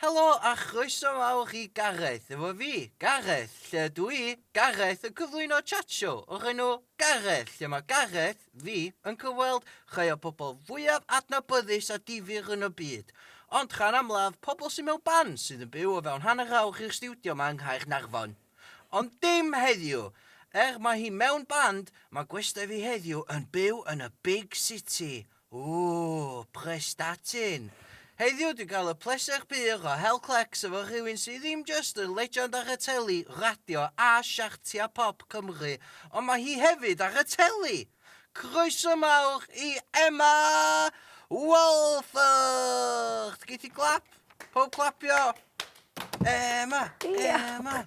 Helo a chroeso mawr i Gareth, efo fi, Gareth, lle ydw i, Gareth, yn cyflwyno chat show o'r enw Gareth, lle mae Gareth, fi, yn cyfweld rhai o'r pobl fwyaf adnabyddus a difyr yn y byd, ond rhan amlaf pobl sydd mewn ban sydd yn byw o fewn hanner awr i'r stiwdio ma yng Nghaernarfon. Ond dim heddiw! Er mae hi mewn band, mae gwestai fi heddiw yn byw yn y big city! Ooh, Prestatyn! Heddiw dwi'n cael y pleser pur o hel clecs efo rhywun sydd ddim jyst yn legend ar y teli, radio a siartiau pop Cymru, ond mae hi hefyd ar y teli! Croeso mawr i Emma Walford! Geith hi glap? Pawb clapio! Emma! Emma!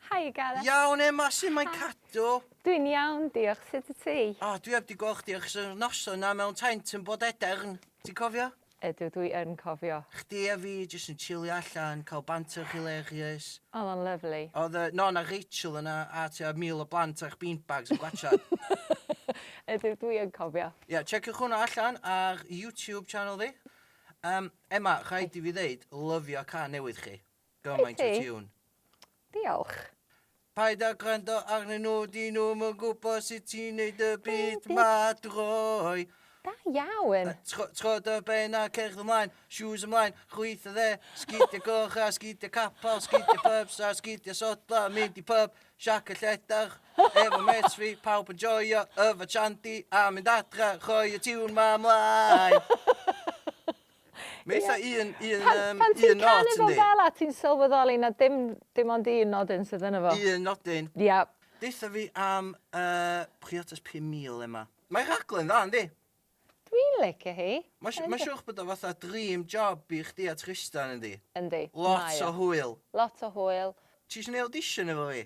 Hi Gareth. Iawn Emma, su' mae Cadw? Dwi'n iawn, diolch. Sut y ti? O, dwi heb di gweld chdi ers y noson na mewn taent yn bod edern. Ti'n cofio? Ydw, dwi yn cofio. Chdi a fi jyst yn chilio allan, cael banter hilarious. Oedd o'n lyfli. Oedd yy Non a Rachel yna a tua mil o blant a'ch beanbags yn gwatsiad. Ydw, dwi yn cofio. Ie, checiwch hwnna allan ar YouTube channel fi. Yym, Emma, rhaid i fi ddeud, lyfio cân newydd chi. Gymaint o tiwn. Diolch. Paid â gwrando arnyn nhw, dyn nhw'm yn gwybod sut ti'n neud y byd ma droi. Da iawn! Trod y ben a cerdd ymlaen, shoes ymlaen, chwyth y dde, sgidio goch a sgidio capel, sgidio pubs a sgidio sodla, mynd i pub, siac y lledach, efo mates fi, pawb yn joio, yfa chandy a mynd adra, rhoi y tiwn ma ymlaen! Mae eitha un, un, yym, un nod Pan ti'n canu fo fel a ti'n sylweddoli na dim, dim ond un nodyn sydd yna fo. Un nodyn. Ia. Deutha fi am uh, Priotas 5000 Emma. Mae rhaglen dda, yndi? Dwi'n licio hi. Mae'n ma siwch bod o fatha dream job i chdi a Tristan, yndi? Yndi. Lot o hwyl. Lot o hwyl. Ti eisiau neud audition efo fi?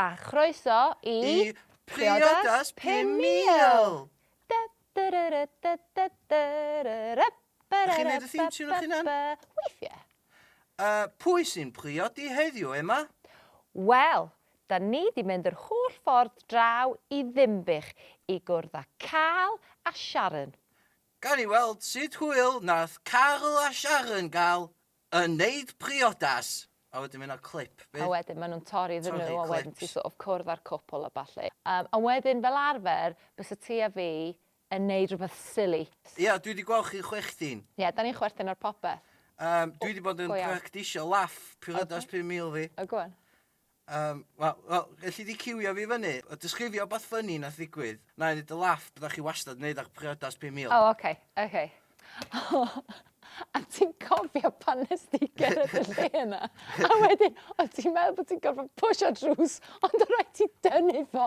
A chroeso i... I Priodas 5000! Dy dy ry ry dy dy dy ry ry by ry ry by by by by. Dych chi'n neud y theme tune 'ych hunan? Weithie. A pwy sy'n priodi heddiw, Emma? Wel, 'dan ni 'di mynd yr holl ffordd draw i Ddinbych i gwrdd â Carl a Sharon. Gawn ni weld sut hwyl nath Carl a Sharon ga'l Yn neud priodas! A wedyn ma' 'na clip A bydd? wedyn ma' nhw'n torri iddyn nhw a wedyn ti sort of cwrdd â'r cwpl a ballu. Yym a wedyn fel arfer bysa ti a fi yn neud rhywbeth silly. Ia dwi 'di gweld chi'n chwechtin. Ie 'dan ni'n chwerthin ar popeth. Yym dwi 'di bod yn practisio laff priodas pum mil fi. O go on. Yym, wel, wel, elli di ciwio fi fyny, a disgrifio wbath ffyni nath ddigwydd, na i neud dy laff, bydda chi wastad yn neud ach priodas pum mil. O oce, oce. O, a ti'n cofio pan nes di gerdded y lle yna, a wedyn o' ti'n meddwl bod ti'n gorfod pwsio drws, ond o' raid ti dynnu fo?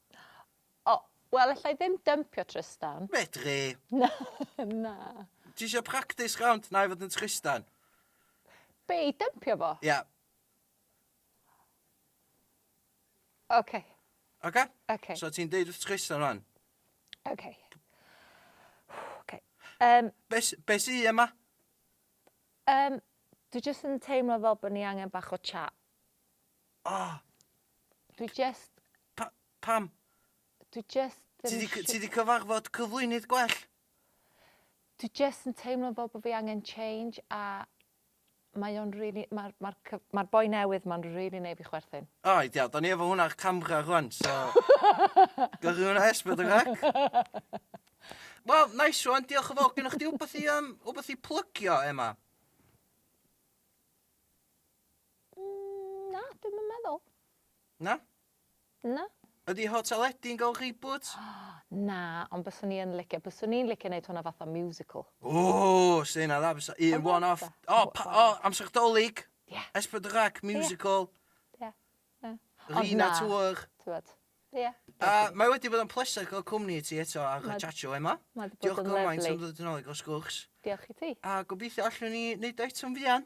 O, wel alla i ddim dympio Trystan. Medri. Na, na. Ti eisiau practis rownd na i fod yn Trystan? Be, i dympio fo? Ia. Yeah. Oce. Oce? Oce. So ti'n deud wrth Trystan rwan? Oce. Oce. Um, Be, be sy yma? Um, dwi jyst yn teimlo fel bod ni angen bach o chat. Ah! Dwi jest... Pa, pam? Dwi jest ddim... Ti di, ti di cyfarfod cyflwynydd gwell? Dwi jest yn teimlo fel bod fi angen change a mae o'n really, mae'r ma ma, ma boi newydd ma'n really neu fi chwerthin. O, oh, ideal. Da ni efo hwnna ar camera rwan, so... Gyrru hwnna esbyd y rac. Wel, nice one, diolch yn fawr. Gynnu chdi wbeth i, um, wbeth i plygio, Emma? Na, dwi'm yn meddwl. Na? Na. Ydi Hotel Eddy yn gael reboot? Na, ond byswn i yn licio, byswn i'n licio neud hwnna fatha musical. Ww, se hynna dda, fysa un Ond one-off. fatha- O, pa- o, one-off. amser Dolig, Ie. Esbydwrac, musical, Ie. Ie. Ond Rina na. Tour. T'wod? Ie. A mae wedi bod yn pleser cael cwmni i ti eto ar y Mae- Chacho Ema. Mae 'di bod Diolch yn gymaint am lyfli. ddod yn ôl i gael sgwrs. Diolch i ti. A gobeithio allwn ni neud o eto'n fuan.